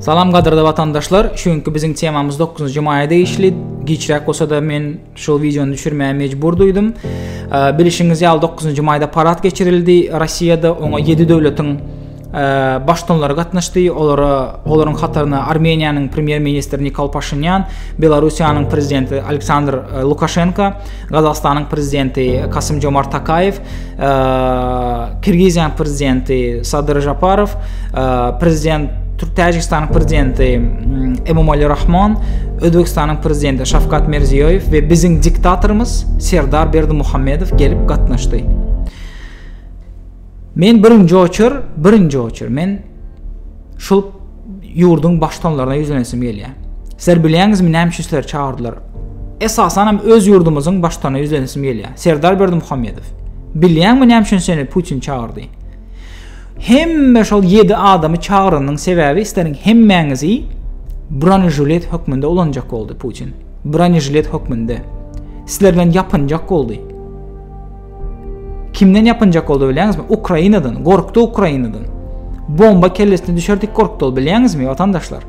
Salam gadyrly watandaşlar, şu günki biziň temamyz 9-njy maýa degişli. Giçräk bolsa-da men şol wideony düşürmäge mejbur duýdum. Bilişiňiz ýaly 9-njy maýda parad geçirildi. Rossiýada oňa 7 döwletiň baştutanlary gatnaşdy. Olara olaryň hataryna Armeniýanyň premýer-ministri Nikol Paşinýan, Belarusiýanyň prezidenti Aleksandr Lukaşenko, Gazagystanyň prezidenti Kasym-Jomart Tokaýew, Kirgiziýanyň prezidenti Sadyr Žaparow, prezident Täjigistanyň prezidenti Emomali Rahmon, Özbegistanyň prezidenti Şawkat Mirziýoýew we biziň diktatorymyz Serdar Berdimuhamedow gelip gatnaşdy. Men birinji oçur, birinji oçur. Men şul ýurduň baştonlaryna ýüzlenesim gelýär. Sizler bilýäňizmi näme üçin sizleri çagyrdylar? Esasan hem öz ýurdumyzyň baştona ýüzlenesim gelýär. Serdar Berdimuhamedow. Bilýäňmi näme üçin seni Putin çagyrdy? Hemme şol 7 adamy çagyranyň sebäbi isleriň hemmäňizi bronejület hökmünde ulanjak boldy Putin. Bronejület hökmünde. Sizler bilen ýapynjak boldy. Kimden ýapynjak boldy bilýäňizmi? Ukrainadan, gorkdy Ukrainadan. Bomba kellesine düşerdik gorkdy ol bilýäňizmi watandaşlar?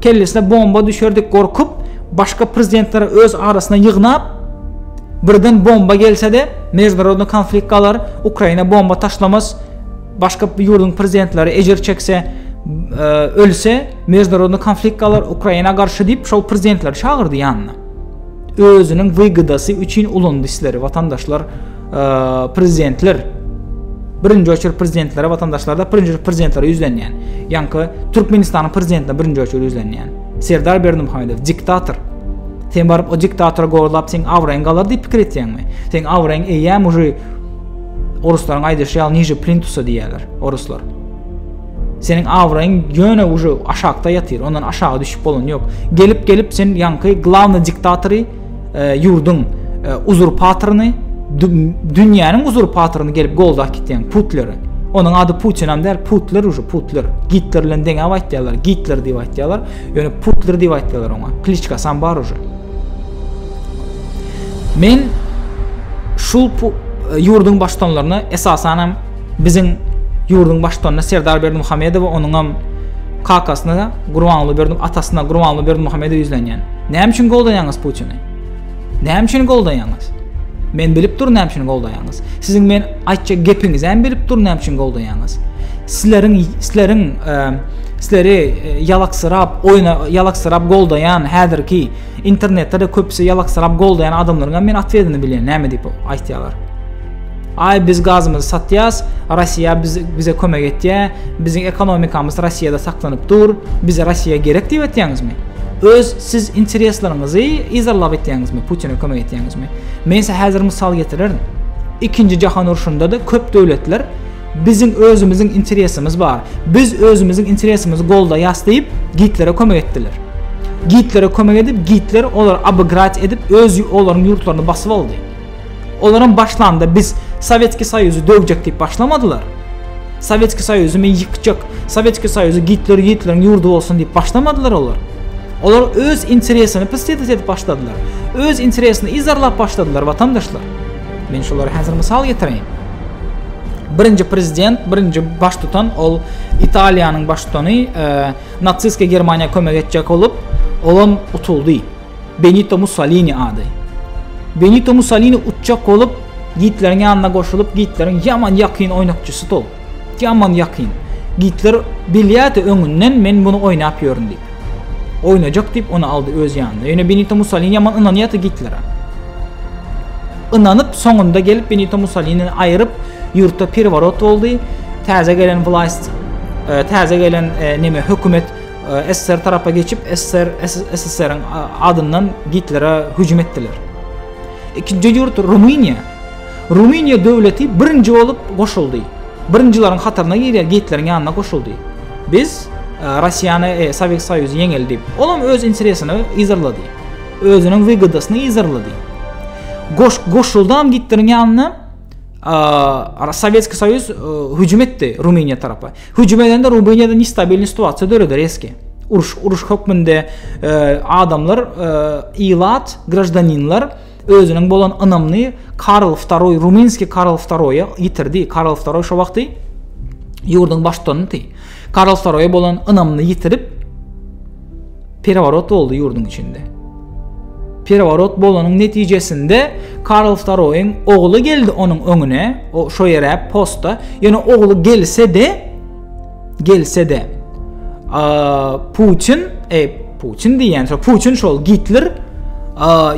Kellesine bomba düşerdik gorkup, başga prezidentleri öz arasyna ýygnap, birden bomba gelse-de, mejburownda konflikt galar, Ukraina bomba taşlamas, başga ýurduň prezidentleri ejir çekse, e, ölse, mejburownda konflikt galar, Ukraina garşy diýip, şol prezidentleri çagyrdy ýanyna. özüniň wygodasy üçin ulandy sizleri watandaşlar prezidentler birinji oçur prezidentlere watandaşlarda birinji oçur prezidentlere ýüzlenýän ýaňky türkmenistanyň prezidentine birinji oçur ýüzlenýän serdar berdimuhamedow diktator sen baryp o diktatora gorlap seň abraýyň galar diýip pikir etýäňmi seň abraýyň eýýäm uji oruslaryň aýdyşy ýaly niže plintusa diýýärler oruslar Seniň abraýyň ýöne uje aşakda ýatyr, ondan aşaga düşüp bolany ýok. Gelip gelip sen ýaňky glawnyý diktatory, e, ýurduň e, uzurpatoryny, dünýäniň uzurpatoryny gelip goldap gitýäň Putleri. Onuň ady Putin hem däl, Putler uje Putler. Gitler bilen deňäp aýtýarlar, Gitler diýip aýtýarlar, ýöne Putler diýip aýtýarlar oňa. Kliçka sam bar uje. Men şu e, ýurduň baştutanlaryna esasan hem Biziň ýurduň baştutanyna Serdar Berdimuhamedowa onuňam kakasyna Gurbanguly Berdi atasyna Gurbanguly Berdimuhamedowa ýüzlenýän. Näme üçin goldaýaňyz Putini? Näme üçin goldaýaňyz? Men bilip durun näme üçin goldaýaňyz. Siziň men aýtjak gepiňizi hem bilip durun näme üçin goldaýaňyz. Sizleriň sizleriň e, sizleri e, ýalaksyrap, oýna ýalaksyrap goldaýan häzirki internetde de köpüsi ýalaksyrap goldaýan adamlaryň hem men atwedyny bilýän, näme diýip aýtýarlar. Aý biz gazymyzy satýas, Rossiýa bize kömek etýär, biziň ekonomikamyz Rossiýada saklanyp dur, bize Rossiýa gerek diýip etýäňizmi? Öz siz interesleriňizi yzarlap etýäňizmi, Putine kömek etýäňizmi? Men size häzir mysal getirerin. Ikinji jahan urşunda-da köp döwletler biziň özümiziň interesimiz bar, biz özümiziň interesimizi goldaýas diýip Gitlere kömek etdiler. Gitlere kömek edip Gitler olary obygrać edip öz olaryň ýurtlaryny basyp aldy. Olaram başlanda biz Sowetski Soýuzy döwjek diýip başlamadylar. Sowetski Soýuzy men ýykjak, Sowetski Soýuzy Gitler Gitleriň ýurdy bolsun diýip başlamadylar olar. Olar öz interesini pystyt edip başladylar. Öz interesini yzarlap başladylar watandaşlar. Men şolara häzir mysal getireýin. Birinji prezident, birinji baştutan ol Italiýanyň baştutany e, natsistske Germaniýa kömek etjek bolup, olam utuldy. Benito Mussolini ady. Benito Mussolini uçjak bolup, Gitleriň ýanyna goşulyp, Gitleriň ýaman ýakyn oýnakçysy tol. Ýaman ýakyn. Gitler bilýärdi öňünden men muny oýnap ýörün diýip. Oýnajak diýip ony aldy öz ýanyna. Ýöne Benito Mussolini ýaman ynanýardy Gitlere. Ynanyp, soňunda gelip Benito Mussolini aýryp, ýurtda perworot boldy. Täze gelen wlaýst, e, täze gelen e, neme hökümet SSR tarapa geçip, SSR, SSR-iň adyndan Gitlere hüjüm etdiler. Ikinji ýurt Rumyniýa. Rumyniýa döwleti birinji bolup goşuldy. Birinjileriň hataryna girýär, Gitleriň ýanyna goşuldy. Biz e, Russiýany, e, Sowet Soýuzy ýeňeli diýip, olam öz interesini yzarlady. Özüniň wygodasyny yzarlady. Goş, goşuldam Gitleriň ýanyna Sowetski Soýuz hüjüm etdi Rumyniýa tarapa. Hüjüm edende Rumyniýada nestabilni situasiýa döredi reski. Uruş uruş hökmünde adamlar ilat, graždaninler özüniň bolan ynamyny Karl II, Ruminski Karl II-a ýitirdi. Karl II şo wagty ýurduň baştutanydy. Karlsoroýa bolan ynamyny ýitirip, pereworot boldy ýurduň içinde. Pereworot bolanyň netijesinde Karlsoroýyň ogly geldi onuň öňüne, o şo ýere posta, ýöne ogly gelse-de, gelse-de, Putin, e, Putin diýýän şo Putin şol Gitler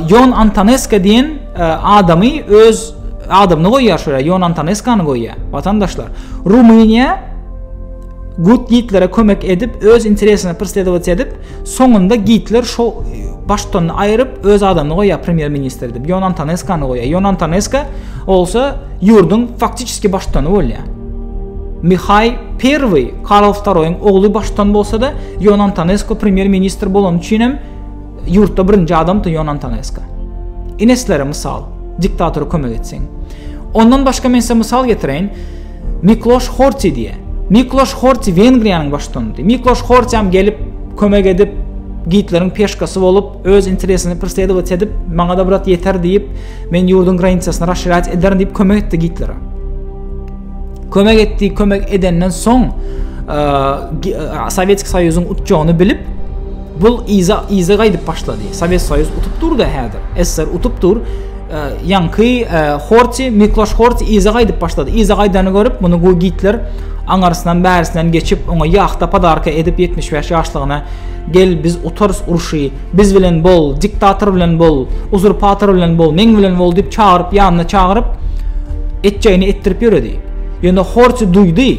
Jon Antoneska diýen adamy öz adamyny goýýar şoýa Jon Antoneskany goýýar. Watandaşlar, Rumyniýa Gut Gitlere kömek edip, öz interesini persledovat edip, soňunda Gitler şo baştony aýryp öz adamyny goýýar premýer ministr edip. Jon Antoneskany goýýar. Jon Antoneska bolsa Ýurduň faktiçeski baştutany bolýar. Mihaý I Karl Wtaroýyň ogly baştutan bolsa-da, Ýon Antonesko premýer-ministr bolany üçin hem ýurtda birinji adamdy Ýon Antonesko. Ineslere mysal, diktatora kömek etseň. Ondan başga men size mysal getireýin, Mikloş Horti diýýär. Mikloş Horti Wengriýanyň baştutanydy. Mikloş Horti hem gelip, kömek edip, Gitleriň peşkasy bolup, öz interesini persledowat edip, maňa-da brat ýeter diýip, Men ýurduň granisasyny raşirýat ederin diýip kömek etdi Gitlere. Kömek etdi, kömek edenden soň Sowetski Soýuzyň utjagyny bilip, bul iza iza gaýdyp başlady. Sowet Soýuz utup durdy häzir. SSR utup dur. Ýanky Horti, Mikloş Horti iza gaýdyp başlady. Iza gaýdany görüp, muny goý Gitler aňarsynan bärsinden geçip, oňa ýahta padarka edip 75 ýaşlygyna gel biz utarys urşy Biz bilen bol, diktator bilen bol, uzurpator bilen bol, meň bilen bol diýip çagyryp, ýanyna çagyryp, etjegini etdirip ýöredi. Ýöne Horti duýdy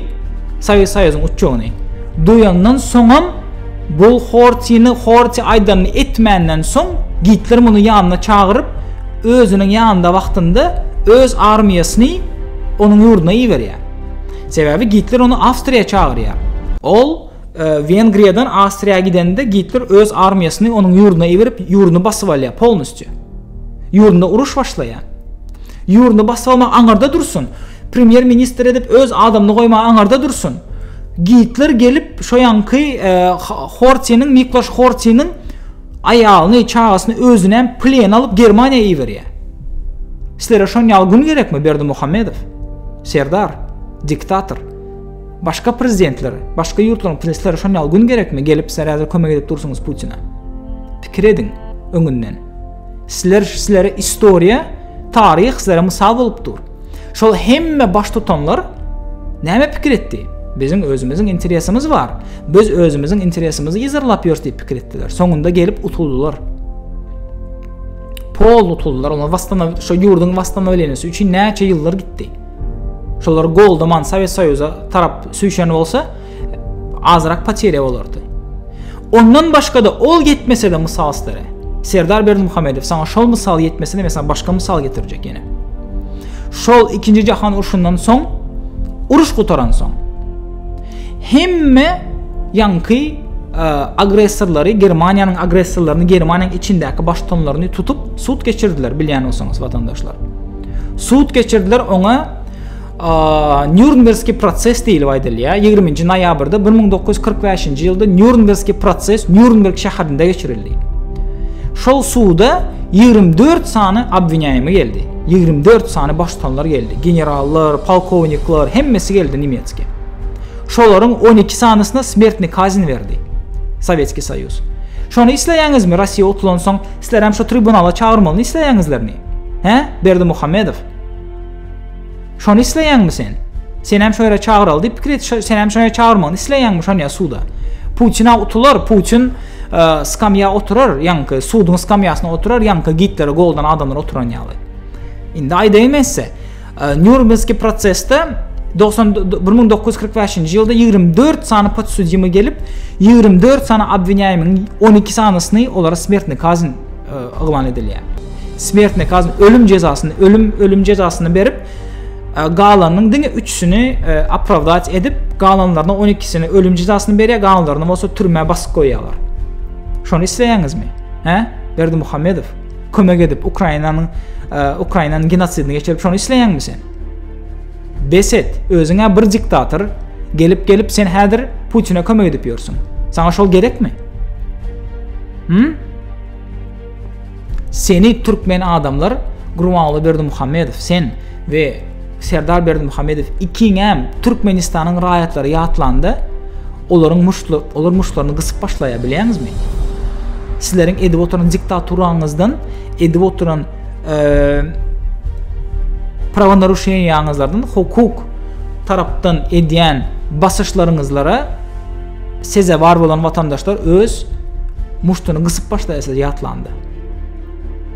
Sowet Soýuzyň uçjagyny. Duýandan soňam bu Hortini, Horti aýdanyny etmänden soň, Gitler muny ýanyna çagyryp, özüniň ýanynda wagtynda öz armiýasyny onuň ýurduna iberýär. Sebäbi Gitler ony Awstriýa çagyrýar. Ol. Wengriýadan Awstriýa gidende Gitler öz armiýasyny onuň ýurduna iberip, ýurduny basyp alýar polnusty. Ýurdunda uruş başlaýar. Ýurduny basyp almak aňarda dursun. Premýer ministr edip öz adamyny goýmak aňarda dursun. Gitler gelip şo ýanky e, Hortiniň, Mikloş Hortiniň aýalyny, çagasyny özüne hem plen alyp Germaniýa iberýär. Sizlere şon ýaly gün gerekmi Berdi Muhammedow? Serdar, diktator. Başga prezidentler, başga ýurtlaryň prinsleri şon ýaly gün gerekmi gelip sizler häzir kömek edip dursuňyz Putina. Pikir ediň öňünden. Sizler sizlere istoriýa, taryh sizlere mysal bolup dur. Şol hemme baş tutanlar näme pikir etdi? Biziň özümiziň interesimiz bar. Biz özümiziň interesimizi ýazarlap ýörs diýip pikir etdiler. Soňunda gelip utuldylar. Pol utuldylar. Olar wastana şu ýurduň wastana bilenisi üçin näçe ýyllar gitdi. Şolary goldaman Sowet Soýuza tarap süýşen bolsa, azrak poterýa bolardy. Ondan başga-da ol ýetmese-de mysal sizlere. Serdar Berdimuhamedow saňa şol mysal ýetmese-de men saňa başga mysal getirjek ýene. Şol ikinji jahan urşundan soň, uruş gutaransoň, hemme ýaňky e, agressorlary, Germaniýanyň agressorlaryny, Germaniýanyň içindäki baştutanlaryny tutup, sud geçirdiler, bilýän bolsaňyz, watandaşlar. Sud geçirdiler oňa Nürnbergski proses diýilip aýdylýar. 20-nji noýabrda 1945-nji ýylda Nürnbergski proses Nürnberg şäherinde geçirildi. Şol suda 24 sany obwinýaýmy geldi. 24 sany baştutanlar geldi. Generallar, polkownikler, hemmesi geldi nemetski. Şolaryň 12 sanysyna smertni kazin berdi. Sowetski Soýuz. Şony isleýäňizmi? Russiýa utulansoň, sizler hem şu tribunala çagyrmalyny isleýäňizlermi? Hä, Berdimuhamedow? Şony isleýäňmi sen? Sen hem şöýle çagyraly diýip pikir et, sen hem şöýle çagyrmagyny isleýäňmi şony ýa suda? Putina utular, Putin e, skamýa oturar, ýaňky suduň skamýasyna oturar, ýaňky Gitlere goldan adamlar oturan ýaly. Indi aýdaýyn men size. Nýurmbergski prosesde bir müň dokuz ýüz kyrk bäşinji ýylda ýigrimi dört sany podsudýmy gelip, ýigrimi dört sany obwinýaýmyň on iki sanysyny olara smertne kazn yglan edilýär. Smertne kazn ölüm jezasyny, ölüm ölüm jezasyny berip, galanyň diňe üçüsini opravdat edip, galanlaryna on ikisini ölüm jezasyny berýär, galanlaryna bolsa türmä basyp goýýarlar. Şony isleýäňizmi? Hä? Berdimuhamedow. kömek edip Ukrainanyň e, Ukrainanyň genosidini geçirip şonu isleýäňmi sen? Beset, özüňe bir diktator gelip gelip sen häzir Putine kömek edip ýörsüň. Saňa şol gerekmi? Hm? Seni türkmen adamlar Gurbanguly Berdimuhamedow sen we Serdar Berdimuhamedow ikiňem Türkmenistanyň raýatlary ýatlanda, olaryň muştly, olar muştlaryny gysyp başlaýar bilýäňizmi? Sizleriň edip oturan diktaturaňyzdan, edip oturan e, prawonarusheniýaňyzlardan, hukuk tarapdan edýän basyşlaryňyzlara sezewar bolan watandaşlar öz muştuny gysyp başlaýar siz ýatlanda.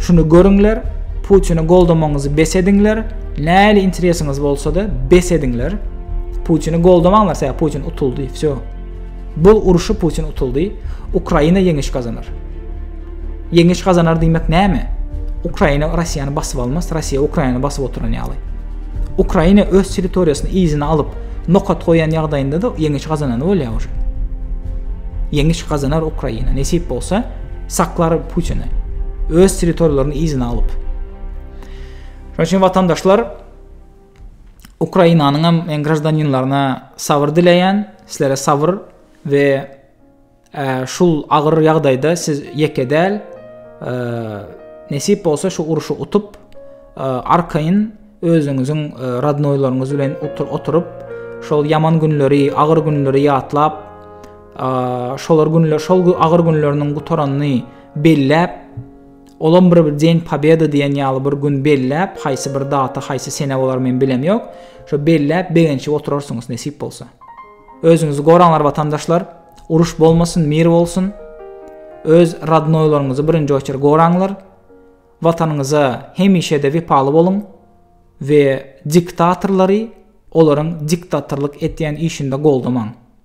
Şuny görüňler, Putini goldamaňyzy bes ediňler, näli interesiňiz bolsa-da bes ediňler. Putini goldamaňlar, sebäbi Putin utuldy, wsýo. Bu uruşy Putin utuldy, Ukraina ýeňiş gazanar. Ýeňiş gazanar diýmek näme? Ukraina Russiýany basyp almaz, Russiýa Ukrainany basyp oturan ýaly. Ukraina öz territoriýasyny yzyna alyp, nokat goýan ýagdaýynda-da ýeňiş gazanany bolýar. Ýeňiş gazanar Ukraina, nesip bolsa, Saklar Putini. Öz territoriýalaryny yzyna alyp. Şonuň üçin watandaşlar Ukrainanyň hem men graždaninlaryna sabyr dileýän, sizlere sabyr we e, şul agyr ýagdaýda siz ýeke däl. E, nesip bolsa şu uruşy utup, e, arkaýyn özüňiziň radnoýlaryňyz bilen oturyp, şol ýaman günleri, agyr günleri ýatlap, şolar günler şol gün agyr günleriniň gutaranyny belläp olam bir den pobeda diýen ýaly bir gün belläp haýsy bir data haýsy sene bolar men bilem ýok şo belläp begençip oturarsyňyz nesip bolsa özüňizi goraňlar watandaşlar uruş bolmasyn mir bolsun öz radnoýlaryňyzy birinji oçer goraňlar watanyňyza hemişe de wepaly boluň we diktatorlary olaryň diktatorlyk etýän işinde goldamaň